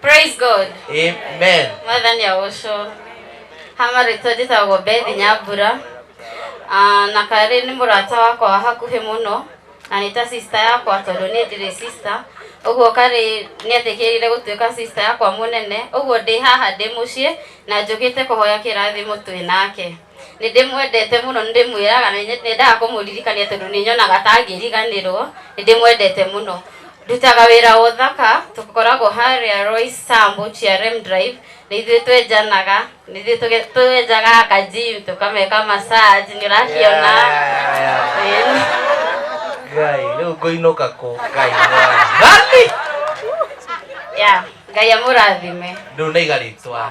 praise god amen mwathani agoco hama rĩtwa njĩtagwo bethi nyambura Ah, na karĩ nĩ mũrata wakwa wa hakuhĩ mũno na nĩ ta sista yakwa tondũ niĩ ndirĩ sista ũguo karĩ nĩ etĩkĩrire gũtuĩka sista yakwa mũnene ũguo ndĩ haha ndĩ mũciĩ na njũkĩte kũhoya kĩrathimo twĩ nake Nĩ ndĩmwendete mũno, nĩ ndĩmwĩraga, nĩ nyendaga kũmũririkania tondũ nĩ nyonaga ta angĩriganĩrwo. Nĩ ndĩmwendete mũno. Ndutaga wĩra wa ũthaka, tũkoragwo harĩa Royce Sambu, GRM Drive, nĩ ithuĩ twenjanaga, nĩ ithuĩ tũge- twenjaga ka gym, tũkameka massage, nĩ ũrakĩona. Ĩni. ngai rä u ngåinåka kå ngai mwathani Yeah, Ngai amũrathime. rä u nä iga rä twa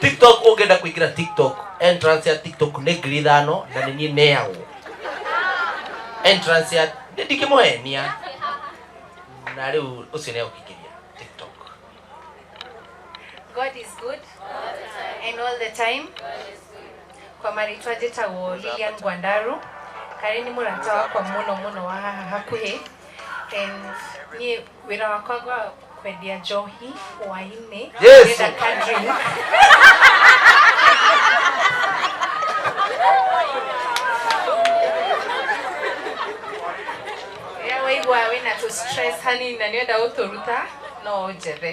tiktok ũngĩenda kũingĩra tiktok entrance ya tiktok nĩ ngiri ithano na nĩ niĩ neyagwo entrance ya nĩ ndingĩmũhenia na rĩu ũcio nĩ egũkĩingĩria tiktok God is good and all the time. Kwa marĩtwa njĩtagwo Lilian Gwandaru. Karĩ nĩ mũrata wakwa mũno mũno wa haha hakuhĩ. And niĩ Wĩra wakwa gwa kwendia njohi hwainĩ. Yes. Ndĩrenda ka drink. Rĩrĩa waigua wĩna tũ stress hanini na nĩũrenda gũtũruta no ũnjethe.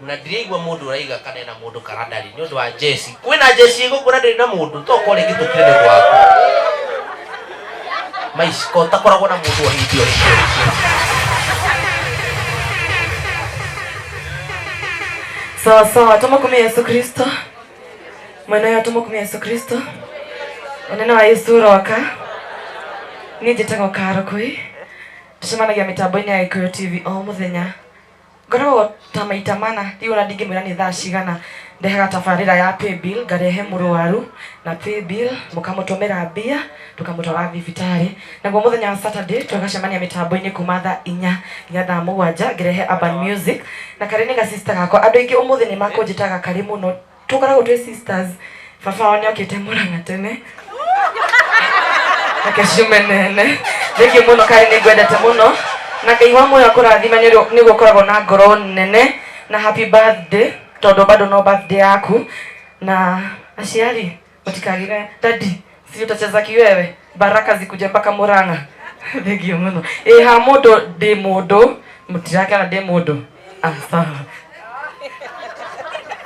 Na ndiraigua mundu uraiga kana ena mundu kana ndari ni undu wa njeci. Kwina njeci igukura ndiri na mundu to ko ringi tukire ni undu waku. Mais ko takoragwo na mundu o hindi o hindi o hindi. sawa sawa tumukumia yesu kristo mwenayo tumukumia yesu kristo unene wa yesu uroka niĩ njĩtagwo karo kũi tũcemanagia mĩtambo-inĩ ya gĩkũyũ tv o mũthenya Ngoragwo ta maita mana, rĩu ona ndingĩmwĩra nĩ thaa cigana. Ndehaga tabarĩra ya paybill ngarehe mũrwaru na paybill mũkamũtũmĩra mbia tũkamũtwara thibitarĩ. Naguo mũthenya wa Saturday tũgacemania mĩtambo-inĩ kuma thaa inya nginya thaa mũgwanja ngĩrehe urban music na karĩ nĩ ga sister gakwa. Andũ aingĩ ũmũthĩ nĩ makũnjĩtaga karĩ mũno. Tũkoragwo twĩ sisters. Baba wao nĩokĩte Mũrang'a tene. Reke ciume nene. Thengiũ mũno Karĩ nĩngwendete mũno. Na Ngai wa muoyo akũrathime nĩũrĩ- nĩguo ũkoragwo na ngoro nene. Na happy birthday tondũ bado no birthday yaku. Na aciari. Otikarire. Daddy, si utacheza kiwewe? Baraka zikuje mpaka Murang'a. Thank you muno. Eh, ha mudo de mudo. Mutiraka na de mudo. Ah, sawa.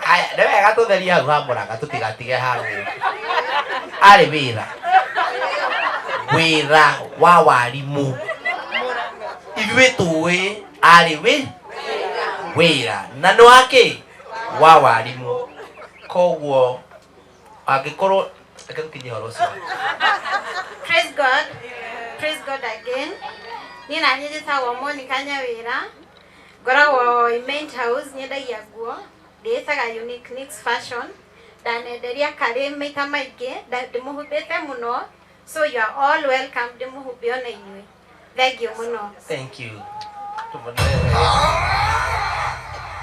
Aya, nĩ wega tũtheria hau ha mũranga tũtigatige hau arĩ wĩra wĩra wa warimũ ithuĩ tũĩ arĩ wĩ wĩra na nĩ wakĩ wa warimũ koguo angĩkorwo reke tũkinyie horo ũcio Praise God. Praise God again. Niĩ na niĩ njĩtagwo Monica Nyawĩra. Ngoragwo in Main House, nyendagia nguo. Ndĩĩtaga Unique Nix Fashion. Ndanenderia karĩ maita maingĩ, nda- ndĩmũhumbĩte mũno. So you are all welcome ndĩmũhumbe ona inyuĩ. Thengiũ mũno. Thank you.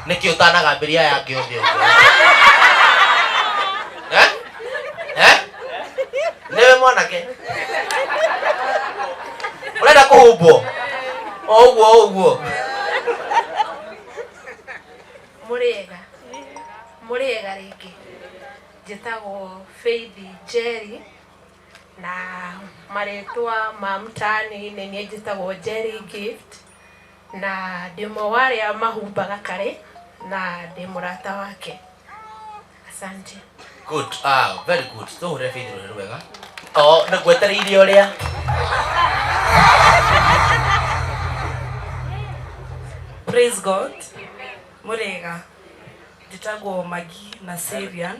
Nĩkĩ ũtanagambĩria aya angĩ othe ũguo? Eh? Eh? Nĩwe mwanake? Ũrenda kũhumbwo? O ũguo o ũguo. Mũrĩega. Mũrĩega rĩngĩ. Njĩtagwo Faith Njeri. Na marĩtwa ma mũtani nĩ niĩ njĩtagwo Njeri Gift, na ndĩ ũmwe wa arĩa mahumbaga karĩ, na ndĩ mũrata wake. Asante. Good. Ah, very good. Tũhũre Faith rũrĩ rwega. Oh, nĩ ngwetereire ũrĩa. Praise God. Mũrĩega. Njĩtagwo Magi na Syrian.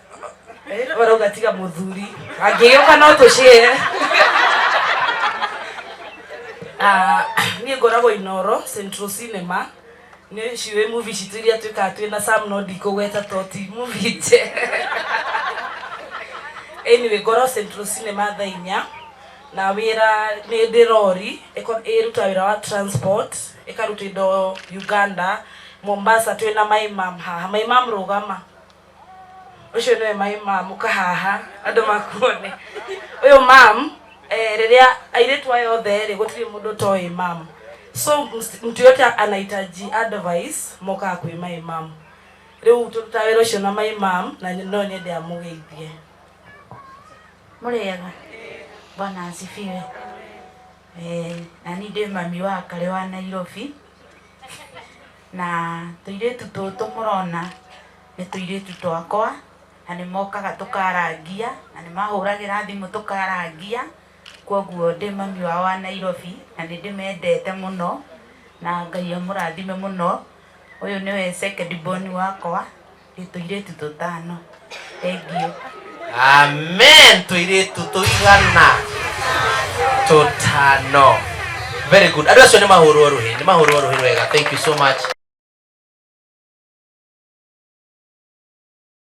barauga tiga muthuri angĩgĩũka no tũcĩe Ah, niĩ ngoragwo inoro central cinema nĩ ciũĩ movie citũ iria twĩkaga twĩ na sam no ndikũgweta to ti movie nje anyway ngoragwo central cinema thaa inya na wĩra nĩ ndĩ rori ĩko- ĩruta wĩra wa transport ĩkaruta indo uganda mombasa twĩ na maimam haha maimam rũgama Ũcio nĩwe my mom, ũka haha andũ makuone. Ũyũ mom eh, rĩrĩa airĩtu aya othe rĩ, gũtirĩ mũndũ ũtoĩ mom. So ms- mtu yote anahitaji advice mokaga kwĩ my mom. Rĩu tũrutaga wĩra ũcio na my mom na nyo- no nyende amũgeithie. Mũrĩega? Bwana asifiwe. Eh, na ni ndĩ mami wa Karĩ wa Nairobi. Na tũirĩtu tũtũ mũrona nĩ tũirĩtu twakwa na nĩ mokaga tũkarangia na nĩ mahũragĩra thimũ tũkarangia. Kwoguo ndĩ mami wao wa Nairobi na nĩ ndĩmendete mũno na Ngai amũrathime mũno. Ũyũ nĩwe second born wakwa. Tũirĩtu tũtano. Thengiũ. Amen. Tũirĩtu tũigana tũtano. Very good. Andũ acio nĩ mahũrwo rũhĩ, nĩ mahũrwo rũhĩ rwega. Thank you so much.